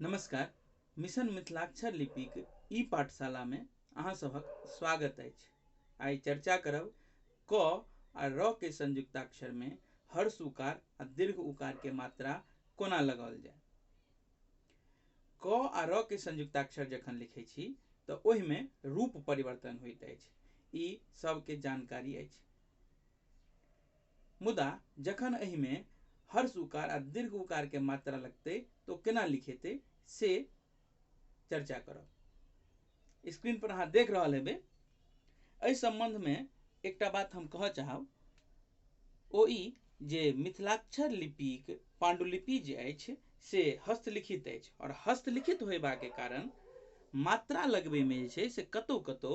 नमस्कार मिशन मिथिलाक्षर लिपिक ई पाठशालामे अहाँ सभक स्वागत अछि आइ चर्चा करब क आ र के संयुक्ताक्षरमे हर्ष उकार आ दीर्घ उकारके मात्रा कोना लगाओल जाय क आ र के संयुक्ताक्षर जखन लिखै छी तऽ ओहिमे रूप परिवर्तन होइत अछि ई सभके जानकारी अछि मुदा जखन एहिमे हर्ष उकार आ दीर्घ उकार के मात्रा लगतै तऽ ओ केना लिखेतै से चर्चा करब स्क्रीन पर अहाँ देख रहल हेबै एहि सम्बन्धमे एकटा बात हम कहऽ चाहब ओ ई जे मिथिलाक्षर लिपिक पाण्डुलिपि जे अछि से हस्तलिखित अछि आओर हस्तलिखित होयबाके कारण मात्रा लगबैमे जे छै से कतौ कतौ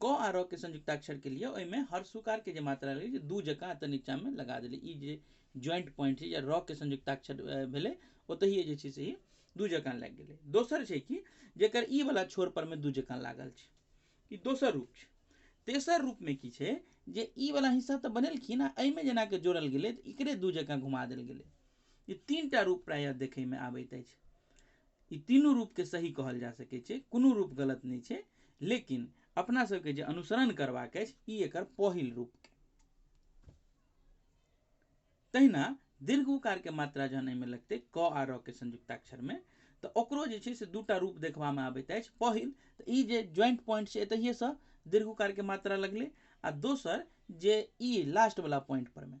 क आ र के संयुक्ताक्षर के लिए ओहिमे हर सुकार के जे मात्रा रहै छै दू जकाँ एतऽ नीचा मे लगा देलियै ई जे ज्वाइंट पॉइंट छै या र के संयुक्ताक्षर भेलै ओतहिये जे छै से ई दू जकाँ लागि गेलै दोसर छै कि जेकर ई बला छोर पर मे दू जकाँ लागल छै ई दोसर रूप छै तेसर रूप मे की छै जे ई बला हिस्सा तऽ बनेलखिन आ एहिमे जेना कऽ जोड़ल गेलै तऽ एकरे दू जकाँ घुमा देल गेलै ई तीन टा रूप प्रायः देखैमे आबैत अछि ई तीनू रूपके सही कहल जा सकै छै कोनो रूप गलत नहि छै लेकिन अपना सबके जे अनुसरण करबाक अछि ई एकर पहिल रूप थिक तहिना दीर्घ उकारके मात्रा जहन एहिमे लगतै क आ र के संयुक्ताक्षरमे तऽ ओकरो जे छै से दूटा रूप देखबामे आबैत अछि पहिल तऽ ई जे ज्वाइंट पॉइंट छै एतहिएसँ दीर्घ उकारके मात्रा लगलै आ दोसर जे ई लास्टवला पॉइंटपरमे